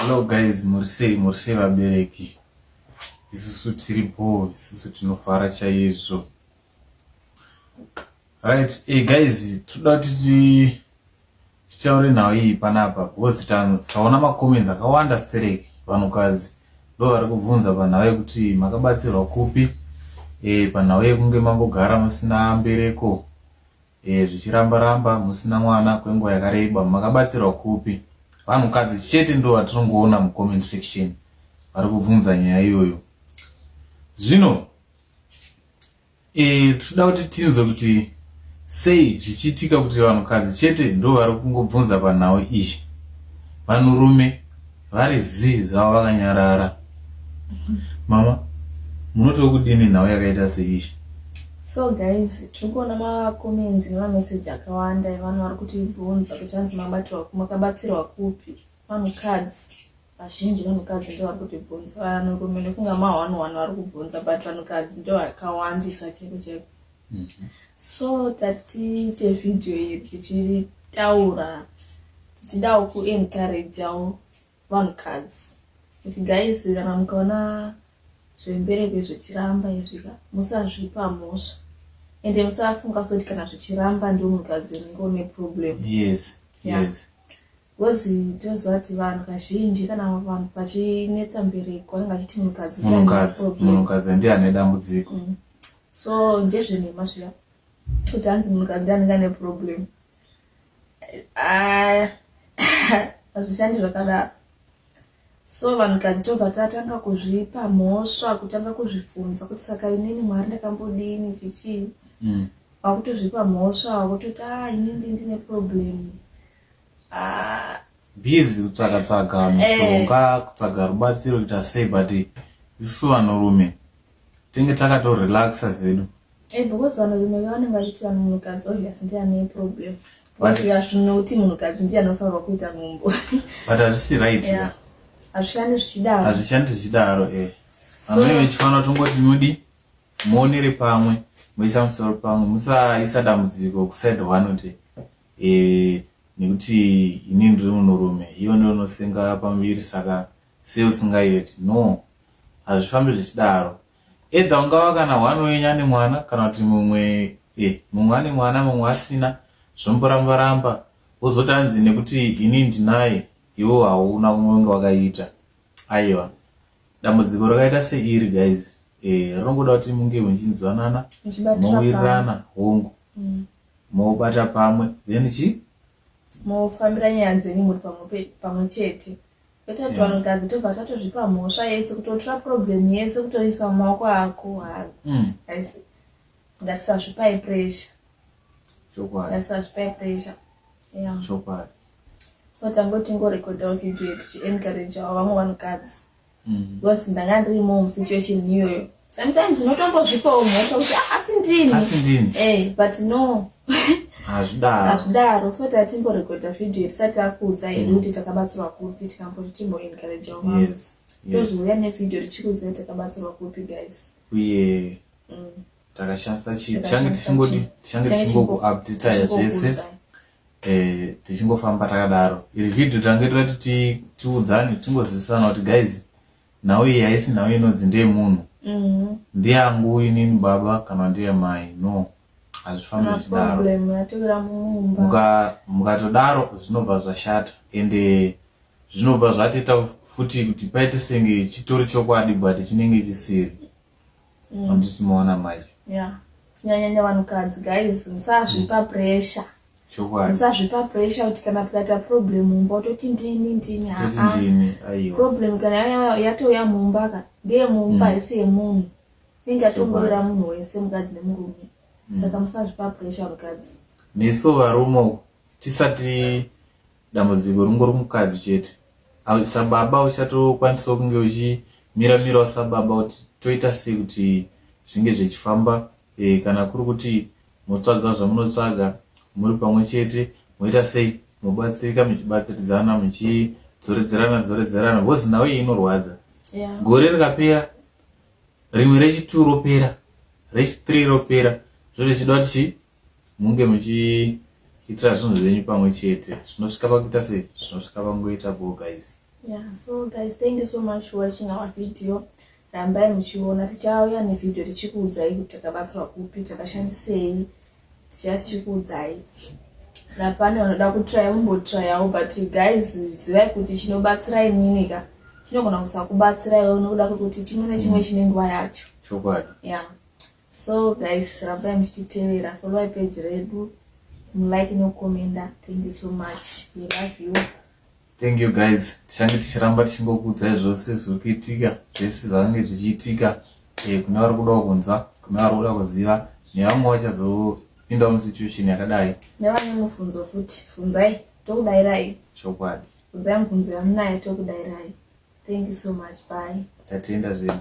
Hello guys, muri sei? Muri sei vabereki? Isusu tiri bho, isusu tinofara chaizvo. Right, hey eh, guys, toda kuti titaure nhau iyi panapa because taona macomments akawanda stereki vanhukadzi ndo vari kubvunza panhau yekuti makabatsirwa kupi e, panhau yekunge mambogara musina mbereko Eh zvichiramba ramba musina mwana kwenguva yakareba makabatsirwa kupi? Vanhukadzi chete ndo vatinongoona mucomment section vari kubvunza nyaya iyoyo. Zvino eh tinoda kuti tinzwe kuti sei zvichiitika kuti vanhukadzi chete ndo vari kungobvunza panhau iyi. Vanhurume vari zii zvavo vakanyarara mama munoti wekudini nhau yakaita seizvi so guys tiri kuona macomments nemameseji akawanda evanhu vari kutibvunza kuti hanzi makabatsirwa kupi vanhukadzi vazhinji vanhukadzi ndo vari kutibvunza vanhurume ndofunga ma one one vari kubvunza but vanhukadzi ndo vakawandisa cheko cheko so tati tiite vhidhiyo iri tichitaura tichidawo kuencourageawo vanhukadzi kuti guys kana mukaona zvembereko zvichiramba izvika musazvipa mhosva ende musafunga soti kana zvichiramba ndiwo munhukadzi ringe une problem yes yeah. yes Because tinoziva kuti vanhu kazhinji kana vanhu pachinetsa mbereko anenge achiti munhukadzi munhukadzi ndiye ane dambudziko mm. so ndezvenhema zviya kuti hanzi munhukadzi ndiye anenge ane problem ah, hazvishandi zvakadaro so vanhukadzi tobva tatanga kuzvipa mhosva kutanga kuzvifunza kuti saka inini mwari ndakambodini chichii mm. wakutozvipa mhosva wakutoti a ah, inini ndine problem Ah. busy kutsvaga tsvaga eh. mushonga kutsvaga rubatsiro kuita sei but isu vanhurume tinge takatorelaxa zvedu eh, because vanhurume vanenge vachiti vanhu munhukadzi obvious ndiye ane problem zvinoti munhukadzi ndiye anofanirwa kuita nhumbu but hazvisi right hazvishandi zvichidaro hazvishandi zvichidaro e amai vechifanira tongoti mudi muonere pamwe moisa musoro pamwe musaisa dambudziko kuside one day Eh nekuti ini ndiri munhurume iwe ndiwe unosenga pamuviri saka sei usingayeti no hazvifambi zvichidaro edha ungava kana one wenyu ane mwana kana kuti mumwe eh mumwe ane mwana mumwe asina zvomboramba ramba wozotanzi nekuti ini ndinaye iwo hauna umwe unge wakaita aiwa dambudziko rakaita seiri guys eh rinongoda kuti munge muchinzwanana mowirirana hongu mm. Mobata pamwe then chi. Mofambira nyaya dzenyu muri pamwe pamwe chete. Kwete kuti vanhu kadzi tobva tatozvipa mhosva yese kutotora problem yese kutoisa mumaoko ako hayi. Mm. Haisi ngatisazvipai pressure. Chokwadi. Ngatisazvipai pressure. Yeah. Chokwadi. So tangotingorekodhawo video tichiencourageawo vamwe vanhukadzi. mm. because ndanga ndirimo musituation iyoyo sometimes unotombozvipawo mhosva kuti ah, asi ndini asi ndini eh but no hazvidaro hazvidaro so tatimborekodha vhidhiyo yetisati akuudza hedu mm. kuti takabatsirwa kupi tikamboti timboencouragewo yes tozouya nevhidhiyo richikuudzai takabatsirwa kupi guys uye mm. takashandisa chii tichange tichingodi tichange tichingokuupdataya zvese eh, tichingofamba takadaro iri vhidhio tange toda kuti tiudzane tingozivisana kuti guys nhau iyi haisi nhau inonzi ndeye munhu mm-hmm. ndiyangu inini baba kana ndiye mai no hazvifambi zvichidaro mukatodaro zvinobva zvashata ende zvinobva zvatiita futi kuti paite senge chitori chokwadi but chinenge chisiri mm. handiti maona manje yeah kunyanyanya vanhukadzi guys musazvipa mm. pressure musazvipa pressure kuti kana pikaita problem mumba utoti ndini ndini haa ah. problem kana yatouya mumba ka ndeye mumba mm. haisi yemunhu inenge yatomboira munhu wese mukadzi nemurume mm. saka musazvipa pressure mukadzi nesu varume uku tisati dambudziko ringori kumukadzi chete sababa uchatokwanisawo kunge uchimira mirawo sababa kuti toita sei kuti zvinge zvechifamba e, kana kuri kuti motsvaga zvamunotsvaga muri pamwe chete moita sei mobatsirika muchibatsiridzana muchidzoredzerana dzoredzerana bcause nhau iyi inorwadza yeah. gore rikapera rimwe rechituru ropera rechithree ropera zvoda kuti Munge muchiitira zvinhu zvenyu pamwe chete zvinosvika pakuita sei zvinosvika pangoita bho guys yeah so guys thank you so much for watching our video rambai muchiona tichauya nevideo tichikuudzai kuti takabatsirwa kupi takashandisei tichaya tichikuudzai napane vanoda kutraya mumbotrayawo but guys zivai kuti chinobatsira imini ka chinogona kusakubatsira iwe unokuda kwekuti chimwe nechimwe mm. chine nguva yacho chokwadi yeah so guys rambai muchititevera followai page redu mulike nokomenda thank you so much we love you thank you guys tichange tichiramba tichingokuudzai zvose zviri kuitika zvese zvakange zvichiitika eh, kune vari kudawo kunzwa kune vari kuda kuziva nevamwe vachazopinda musituation yakadai nevane mubvunzo futi funzai tokudairai chokwadi funzai mubvunzo yamunayo tokudairai thank you so much bye tatenda zvedu